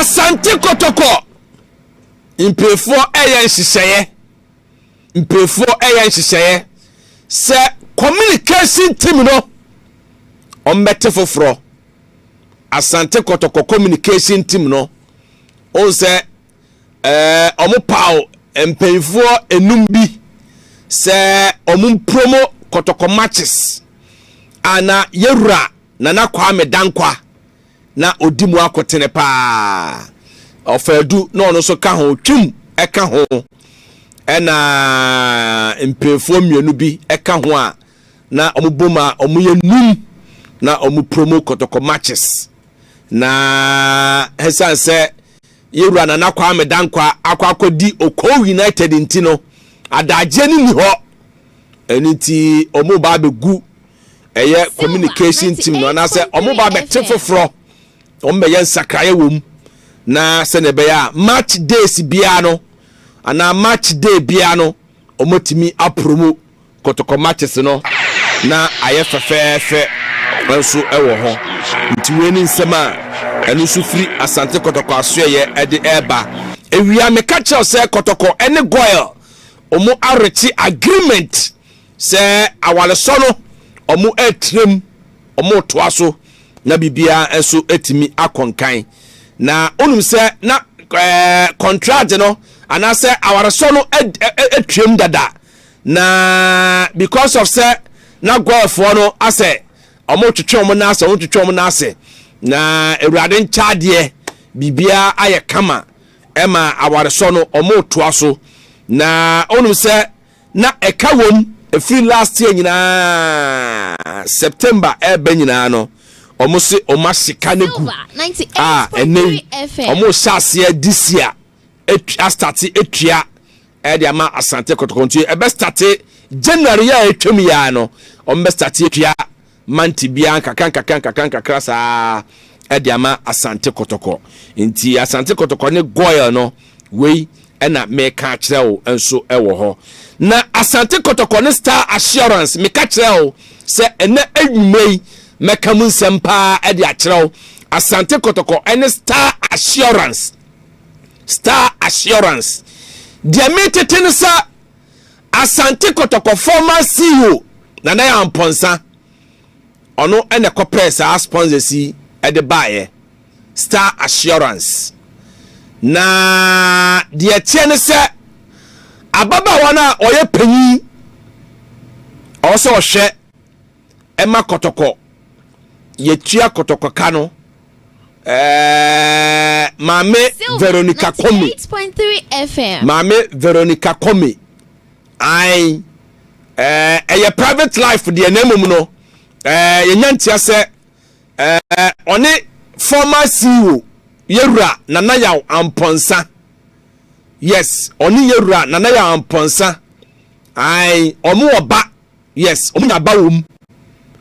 Asante Kotoko mperefoɔ ɛyɛ nhyehyɛeɛ mperefoɔ ɛyɛ nhyehyɛeɛ sɛ communication team no wɔn bɛte foforɔ Asante Kotoko communication team no wɔn sɛ. eh, wɔpaw mpanimfoɔ enum bi sɛ wɔmpromo kɔtɔkɔ matches a na yɛwura Nana Kwame Dankwa na ɔdi mu akotene paa. Ɔfaadu na ɔno nso ka ho, Twum ka ho, ɛna mpanimfoɔ mmienu bi ka ho a na wɔbom a wɔyɛ num na wɔpromo kɔtɔkɔ matches na ɛsiane sɛ Yɛn Wura Nana Kwame Dankwah akɔ akɔdi Okow United nti no, adagyeɛ no nni hɔ. Ɛno nti wɔreba abɛgu ɛyɛ communication team no anaasɛ wɔreba abɛte foforɔ, wɔbɛyɛ nsakraeɛ wɔ mu na sɛdeɛ ɛbɛyɛ a match days biara no anaa match day biara no wɔatumi apromo Kotoko matches no na ayɛ fɛfɛɛfɛ nso wɔ hɔ. Nti wei ne nsɛm a ɛno nso firi Asante Kotoko asoɛeɛ de reba. Awia meka kyerɛ wo sɛ Kotoko ne Goil wɔn arekye agreement sɛ awaresɔ no wɔn retire mu, wɔn retoa so na biribiara nso atumi akɔ nkan. Na wonim sɛ na ɛɛ kɔntragye no anaasɛ awaresɔ no atwam dada Na because of sɛ na Goyɛfoɔ no asɛ wɔn retwetwe wɔn nan ase wɔn retwetwe wɔn nan ase na awurade nkyaadeɛ biribiara ayɛ kama ɛma awaresɔ no wɔn retoa so na wɔnum sɛ na ɛka wɔm efiri last year nyinaa September ɛɛbɛ nyinaa no wɔn se wɔn ahyeka ne gu a ɛnɛ wɔn hyɛ aseɛ this year astate atua ɛde ama asante kɔtɔkɔ nti ɛbɛstate january yɛ a atwam yɛ a no ɔmbɛstate atua mante biara nkakra nkakra nkakra nkakra saa ɛde ama asante kɔtɔkɔ nti asante kɔtɔkɔ ne goil no wei ɛna meka akyerɛ wo nso ɛwɔ hɔ na asante kɔtɔkɔ ne star assurance meka kyerɛ wo sɛ ɛnɛ anwumma yi mɛka mu nsɛm paa ɛde akyerɛ wo asante kɔtɔkɔ ɛne star assurance Star Assurance. Deɛ metete no sɛ Asante Kɔtɔkɔ former CEO Nana Yaw Ampɔnsa ɔno ɛna ɛkɔpɛɛ saa sponsors yi ɛde baeɛ Star Assurance na deɛ ɛteɛ no sɛ ababaawa no a ɔyɛ panyin ɔwɔ sɛ ɔhwɛ ɛma kɔtɔkɔ yɛtua kɔtɔkɔ ka no Eh, Maame Veronica Kome. Maame Veronica Kome. Ae. Eh, ɛyɛ private life deɛ na mmom no. Eh, yɛnya ntia sɛ eh, ɔne former CEO yɛwura Nana Yaw Ampɔnsa. Yes, ɔne yɛwura Nana Yaw Ampɔnsa. Ae, ɔmo ɔba. Yes, wɔn nya aba wɔm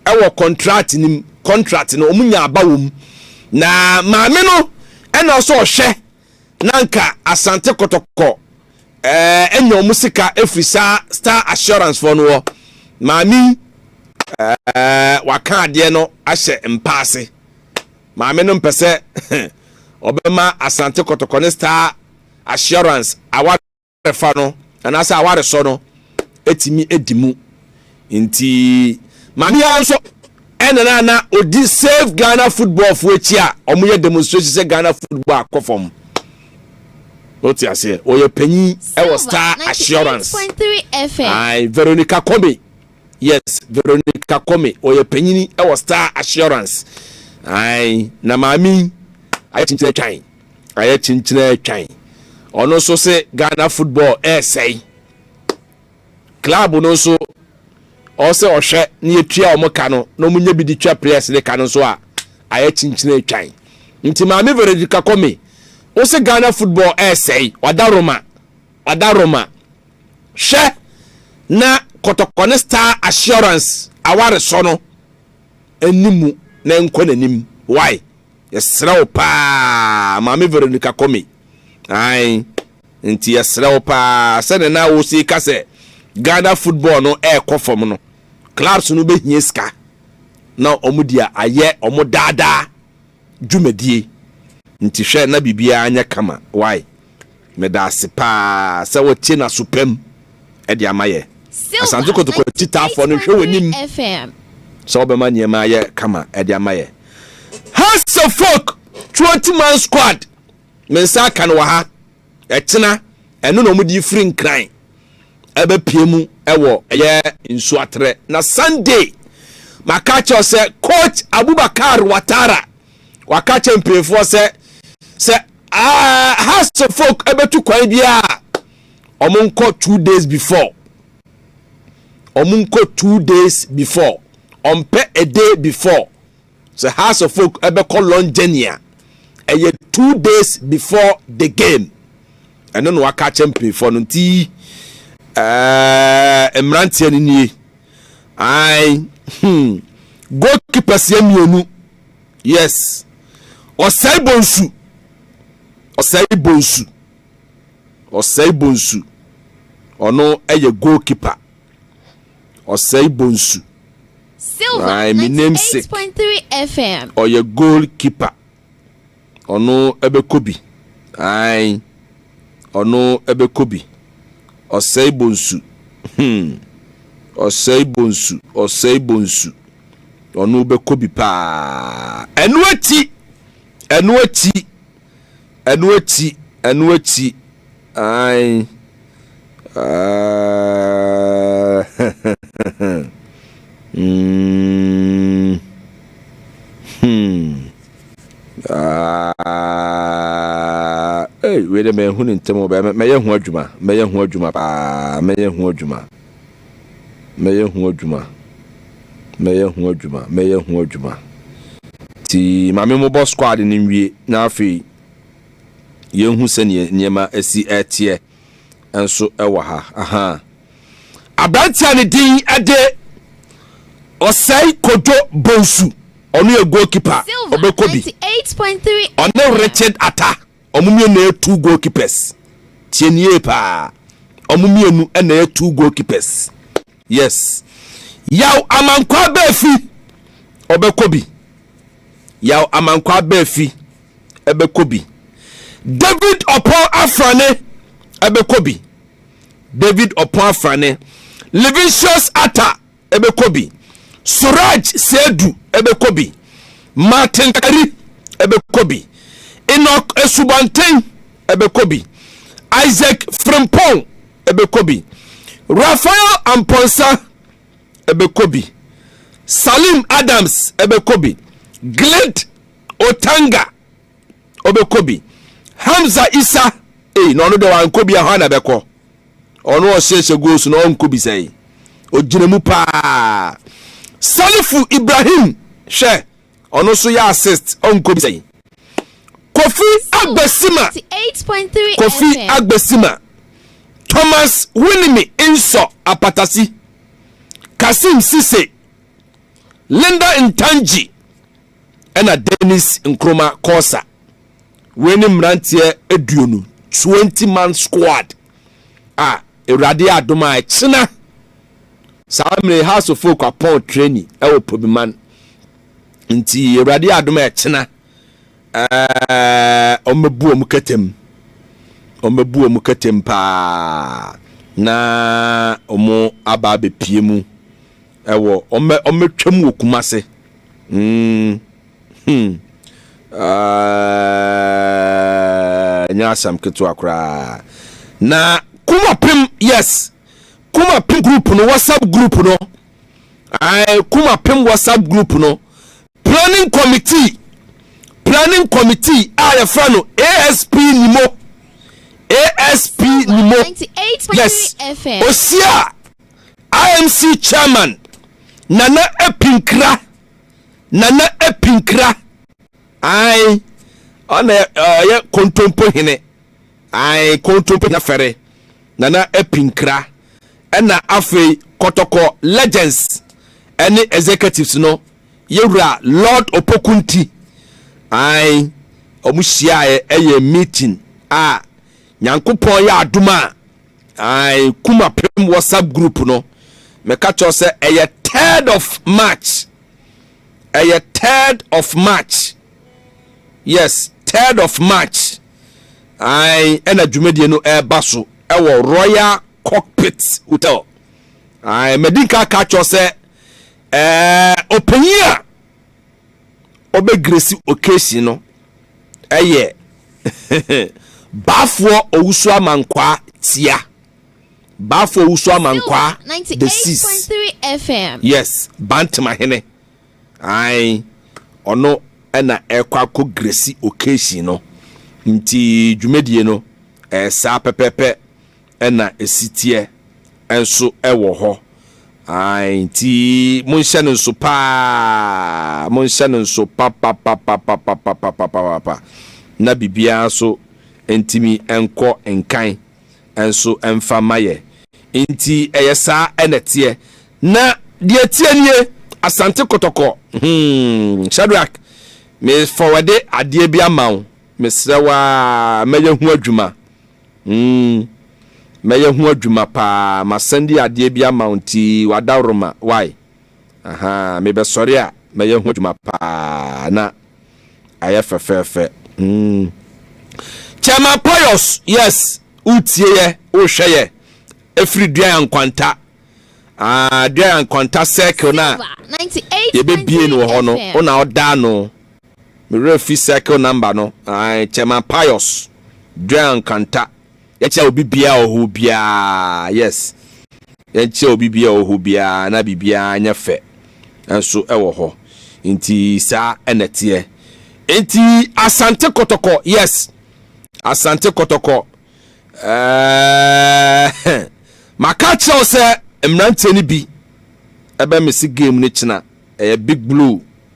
ɛwɔ contract no mu, contract no wɔn nya aba wɔm. Na maame no ɛna ɔsɛ ɔhwɛ na nka asante kɔtɔkɔ ɛɛ ɛnya wɔn sika efiri saa star assurance fɔ no wɔ. Maame yi ɛɛ waka adeɛ no ahyɛ mpaase. Maame no mpɛ sɛ ɔbɛma asante kɔtɔkɔ ne star assurance awa fa no anaasɛ awaresɔ no tumi di mu nti ma biara nso ɛna na na ɔdi save ghana football fo akyi a wɔyɛ demonstration sɛ ghana football akɔ fam wote aseɛ ɔyɛ panyin ɛwɔ star assurance ae veronica kɔme yes veronica kɔme ɔyɛ panyini ɛwɔ star assurance ae na maame ayɛ kyikyerɛ twan Ayɛ kyenkyena atwan. Ɔno nso se Ghana football ɛresɛe. Club no nso ɔsɛ ɔhwɛ na yɛtua wɔn ka no na wɔn nyɛ bi de twa players ne ka no nso a ayɛ kyenkyena atwan. Nti maame Veredika Kɔme, wose Ghana football ɛresɛe, wada Roma, wada Roma. Hwɛ na kɔtɔkɔ ne star assurance awaresɔ no. Nni mu na nkɔ nanim wai yɛsrɛ wo paa maame Veronica Kome ae nti yɛsrɛ wo paa sɛdeɛ na wosi ka sɛ Ghana football no ɛɛkɔ fam no clubs no bɛhia sika na wɔn deɛ ayɛ wɔn daadaa dwumadie nti hwɛ na biribiara nyɛ kama wai medaase paa sɛ wotie naso pam de ama yɛ asante kotoko ti taafoɔ no hwɛ w'anim sɛ wobɛma nneɛma ayɛ kama de ama yɛ hasefok 20 man squad me nsa aka no wɔ ha Ɛtena, ɛno na wɔde firi Nkran ɛbɛpie mu ɛwɔ ɛyɛ Nsuaterɛ. Na Sunday, maka akyɛw sɛ Coach Abubakar Watara, waka akyɛ mpanyinfoɔ sɛ sɛ uh, Hearts of Oak ɛbɛtu kwan biara, wɔn nkɔ two days before, wɔn nkɔ two days before, wɔn pɛ a day before. Sɛ Hearts of Oak bɛkɔ long journey a, ɛyɛ two days before the game. Ɛno na waka akyɛ mpanyinfoɔ no nti ɛɛ eh, mmeranteɛ no nie. Ae, hmm, goalkeepers yɛ mmienu. Yes. Ɔsɛe bonsu. Ɔsɛe bonsu. Ɔsɛe bonsu. Ɔno ɛyɛ goalkeeper. Ɔsɛe Bonsu. Silver Ae me namesake. 98.3 FM. Ɔyɛ goal keeper. Ɔno ɛbɛkɔ bi. Ae. Ɔno ɛbɛkɔ bi. Ɔsɛe Bonsu. Hmm. Ɔsɛe Bonsu. Ɔsɛe Bonsu. Ɔno bɛkɔ bi paa. Ɛno akyi. Ɛno akyi. Ɛno akyi, ɛno akyi, ae. mm. Hmm. Ah, hey, wei dɛ mɛhu ne ntɛm ɔbɛyɛ mɛyɛ ho adwuma mɛyɛ ho adwuma paa mɛyɛ ho adwuma mɛyɛ ho adwuma, mɛyɛ ho adwuma, mɛyɛ ho adwuma. Ti maame mo bɔ squad no nwie na afei yɛnhu sɛdeɛ nneɛma asi ɛteɛ nso ɛwɔ ha. Aha. Aberanteɛ ne din ɛde Ɔsɛe Kojo Bonsu, ɔno yɛ goalkeeper, ɔbɛkɔ bi, ɔne Richard Atta. Ɔmo mmienu na ɛyɛ two goal keepers. Tie no yie paa. Ɔmo mmienu na ɛyɛ two goal keepers. Yes. Yaw Amankwaa Bɛɛfi ɔbɛkɔ bi. Yaw Amankwaa Bɛɛfi ɛbɛkɔ bi. David Ɔpɔn Afrane ɛbɛkɔ bi. David Ɔpɔn Afrane. Livinsius Atta ɛbɛkɔ bi, Suraj Saidu ɛbɛkɔ bi, Martin Kari ɛbɛkɔ bi, Enoch Asubɔnten ɛbɛkɔ bi, Isaac Frimpong ɛbɛkɔ bi, Raphael Amponsah ɛbɛkɔ bi, Salim Adams ɛbɛkɔ bi, Glade Otanga ɔbɛkɔ bi hamza isa ei na ɔno deɛ wankɔ bi ɛhɔ na bɛkɔ ɔno ɔhyɛhyɛ goals na ɔnkɔ bi sɛe ɔgyina mu paa salifu ibrahim hwɛ ɔno nso yɛ assist ɔnkɔ bi sɛe kofi agbesima kofi agbesima thomas winimi nsɔ apatasi kasim sise linda ntanji ɛna Dennis Nkrumah Corsa. Wei ne mmeranteɛ aduonu, 20 man squad a Awurade adom a ɛkyena saa mmerɛ House of Folk apɔn training ɛwɔ Pobiman nti Awurade adom a ɛkyena ɛɛ ɔmɛbu ɔmo kɛtɛm ɔmɛbu ɔmo kɛtɛm paa na ɔmo aba abɛpie mu Ɛwɔ ɔmɛ ɔmɛ twam wɔ kumase mm hmm aah nyɛ asɛm ketewa koraa na kuma pem yes kuma pem group no whatsapp group no ae kuma pem whatsapp group no planning committee planning committee a yɛfrɛ no asp nimo asp nimo yes osia IMC Chairman Nana Apinkra Nana Apinkra ae ɔna ɔyɛ kontompo hene ae kontompo hene fɛre Nana Apinkra ɛna afei kɔtɔkɔ legends ɛne executives no yɛwura Lord Opokunti ae ɔmo hyiaeɛ ɛyɛ meeting a Nyankopɔn yɛ adom a Ae Kumapem WhatsApp group no meka kyerɛ sɛ ɛyɛ third of March ɛyɛ third of March yes third of March ae ɛna dwumadie no ɛreba so ɛwɔ Royal Cockpit Hotel ae madi nka ka kyerɛ sɛ ɛɛ ɔpanyin a ɔbɛ gresi occasion no ɛyɛ Baafoɔ Owusu Amankwaa tia Baafoɔ Owusu Amankwaa the sixth yes Bantemahene ae ɔno ɛna ɛkɔ akɔ gresi occasion no nti dwumadie no ɛyɛ saa pɛpɛpɛ Ɛna ɛsiteɛ nso wɔ hɔ. Ae, nti monhyɛ no nso paa, monhyɛ no nso papapapapapapapapapa, na biribiara nso ntumi nkɔ nkan nso mfa mma yɛ. Nti ɛyɛ saa na ɛteɛ. Na deɛ ɛteɛ nie, Asante Kɔtɔkɔ, hmm, Shadrack, me fɔwɛde adeɛ bi ama wo, mesrɛ wo ara, mɛyɛ ho adwuma. Mm, mɛyɛ ho adwuma paa, masan di adeɛ bi ama wo nti w'adaworoma, wai? Ahaa, mebɛsɔre a, mɛyɛ ho adwuma paa, na ayɛ fɛfɛɛfɛ, mm. Chairman Pius, yes, woretie yɛ, worehwɛ yɛ, ɛfiri Duaya Nkwanta, ah, Duaya Nkwanta circle no a yɛbɛbue no wɔ hɔ no, wo na woda ano, Me werɛ fi circle number no ae Chairman Pius Duah Nkrantah Yɛkyɛ obi biaa wɔ hɔ biaa yes Yɛkyɛ obi biaa wɔ hɔ biaa na biribiaa nyɛ fɛ nso wɔ hɔ nti saa na ɛteɛ Nti Asante Kɔtɔkɔ yes Asante Kɔtɔkɔ ɛɛɛɛɛ Maka akyerɛ wo sɛ mmeranteɛ no bi ɛbɛ mese game no kyena ɛyɛ Big Blue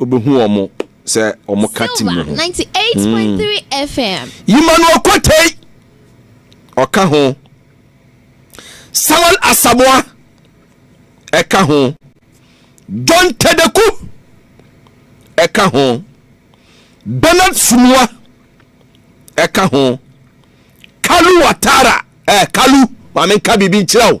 Obehu wɔn sɛ wɔn ka ti mu ho. Hmm. Yima no Okotei ɔka ho. Samuel Asamoah ɛka ho. John Tedeku ɛka ho. Bernard Sumua ɛka ho. Kalu Watara ɛɛ eh, Kalu maame nka biribi nkyerɛ o.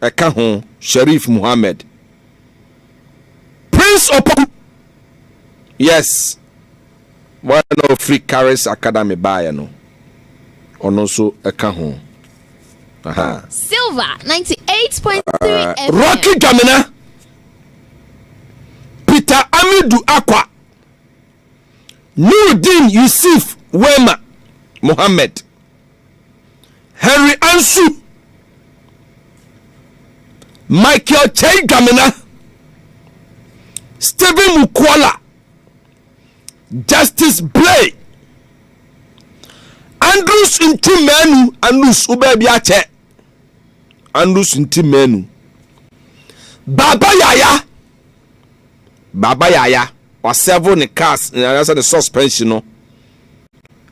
ɛka ho Sharif Muhammad, Prince Opoku, yes, wɔn na ɔfiri Karis Academy baeɛ no, ɔno nso ɛka ho. Aha. Silver 98.3 uh, ah, Rocky Dwamena, Peter Amidu Akwa, Nurudin Yusuf Wema Mohammed. Henry Ansu, Michael Kyei Dwamena, Stephen Mukuola, Justice Blay, Andrews Nti Manu, Andrews wobɛɛ bi akyɛ, Andrews Nti Manu, Baba Yaya, Baba Yaya, wasɛvo ne cars, ne suspension no,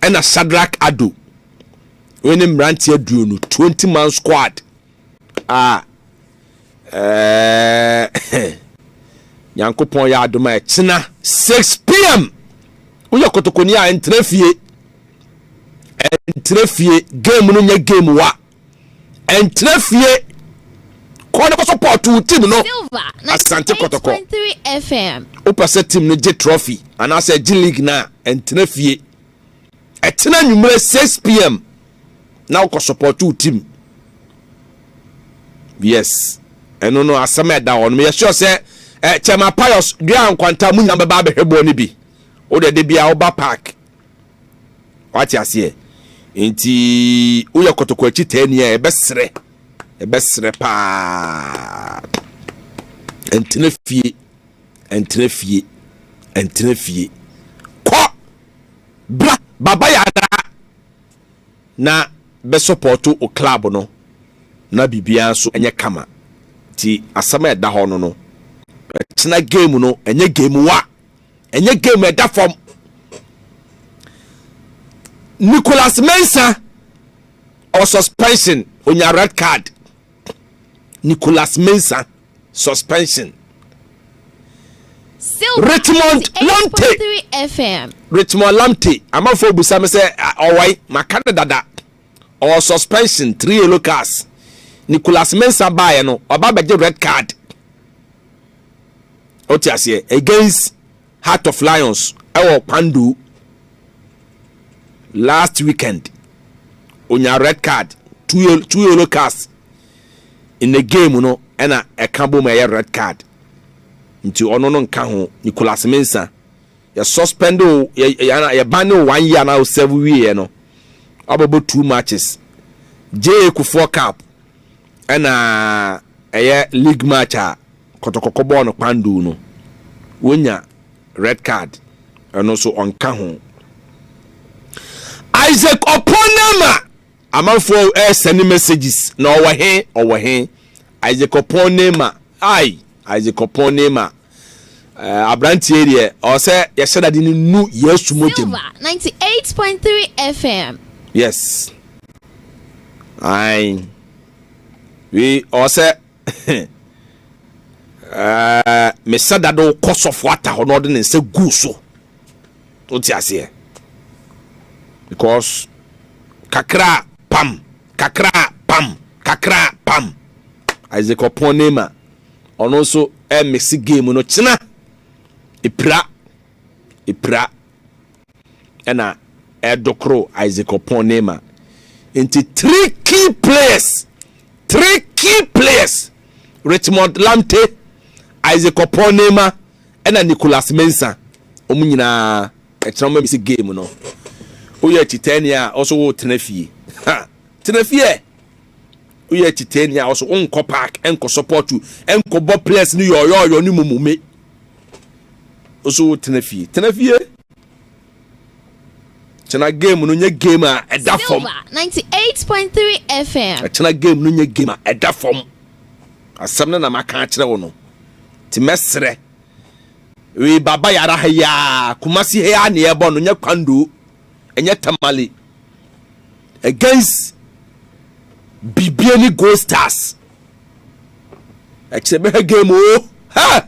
ɛna Sadrak Ado wei ne mmeranteɛ aduonu 20 man squad a ɛɛ nyankopɔn yɛ adom a ɛkyena 6 pm woyɛ kotokoni a ɛntena fie ɛntena fie game no nyɛ game wa Ɛntena fie, kɔ na kɔsɔpɔɔto wo team no, Asante Kɔtɔkɔ. Wopɛ sɛ team no gye trophy anaasɛ ɛgye league no a, ɛntena fie. Ɛtena anwummerɛ 6pm na wokɔsɔpɔɔto wo team. Yes, ɛno no asɛm a ɛda hɔ no, meyɛ sure sɛ eh, Kyɛma Pius, Dua Nkwanta, mo nyinaa bɛba abɛhwɛ bɔɔ no bi. Wode de bia woba park wate aseɛ nti woyɛ kɔtɔkɔ akyi taani a ɛbɛserɛ ɛbɛserɛ paa ɛntena fie ɛntena fie ɛntena fie kɔ bra baba yɛ anaa na bɛsɔpɔto o club no na biribiara nso ɛnyɛ kama nti asɛm a ɛda hɔ no no ɛkyena game no ɛnyɛ game wa ɛnyɛ game ɛda fam nicholas mensa ɔ suspension onya red card nicholas mensa suspension richmond lamte richmond lamte amanfoɔ busa me sɛ ɔwɔe maka no dada ɔ suspension three yellow cards nicholas mensa baeɛ no ɔba bɛgye red card wote aseɛ against heart of lions ɛwɔ kwando last weekend onya red card two yellow, two yellow cards in the game no ɛna ɛka bom ɛyɛ red card nti ɔno no nka ho Nicolas Mensa yɛ suspend o yɛ yɛ yɛ ban ne o one year na o serve wieɛ no ɔbɛbɔ two matches J Kufuor Cup ɛna ɛyɛ league match a Kɔtɔkɔ kɔbɔɔ no kpanduu no wonya red card ɛno nso ɔnka ho. Isaac Opon-Nama amanfoɔ ɛresɛne messages na ɔwɔ he ɔwɔ he Isaac Opon-Nama ai Isaac Opon-Nama eh, aberanteɛ deɛ ɔwɔ sɛ yɛhyɛ dade no nu Yesu mogya mu. Silver 98.3 FM. Yes. Ai. We ɔwɔ sɛ mesɛ dade wokɔ sɔfo ata hɔ na ɔde ne nsa gu so wote aseɛ because kakra pam kakra pam kakra pam isaac ɔpɔn nema ɔno nso ɛmese game no kyena ɛpira ɛpira ɛna ɛdokoro Isaac Opon Neymar nti three key players three key players Richmond Lamte Isaac Opon Neymar ɛna Nicolas Mensa wɔn nyinaa ɛkyerɛ wɔn si game no woyɛ akyitɛni a ɔso wo tena fie ha tena fie woyɛ akyitɛni a ɔso wo nkɔ park ɛnkɔ support you ɛnkɔ bɔ players no yɔyɔyɔ ne mumume Oso wo tena fie. Tena fie. Kyena game no nye game a ɛda fam. Silver 98.3 FM. Kyena game no nye game a ɛda fam. Asɛm no na maka akyerɛ wo no. Ti mɛsrɛ. Wei baba yara ha yi a Kumasi ha yi a ne ɛbɔ no nye kwando. Ɛnyɛ tamale. Against bibie ne gold stars. Ɛkyerɛ bɛhwɛ game o. Ha!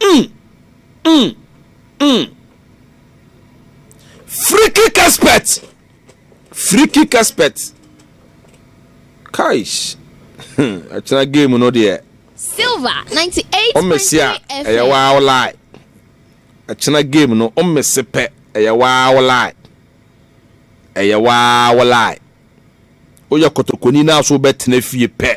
Mm, mm, mm. Free kick expert. Free kick expert. Kaish. Ɛkyerɛ game no deɛ. Silver 98.3 FM. Ɔmmɛsi a ɛyɛ waa ɔlaa. Ɛkyerɛ game no ɔmmɛsi pɛ ɛyɛ waa ɔlaa. Ɛyɛ waa ɔlaa. Woyɛ kɔtɔkɔni naa so bɛtena fie pɛ.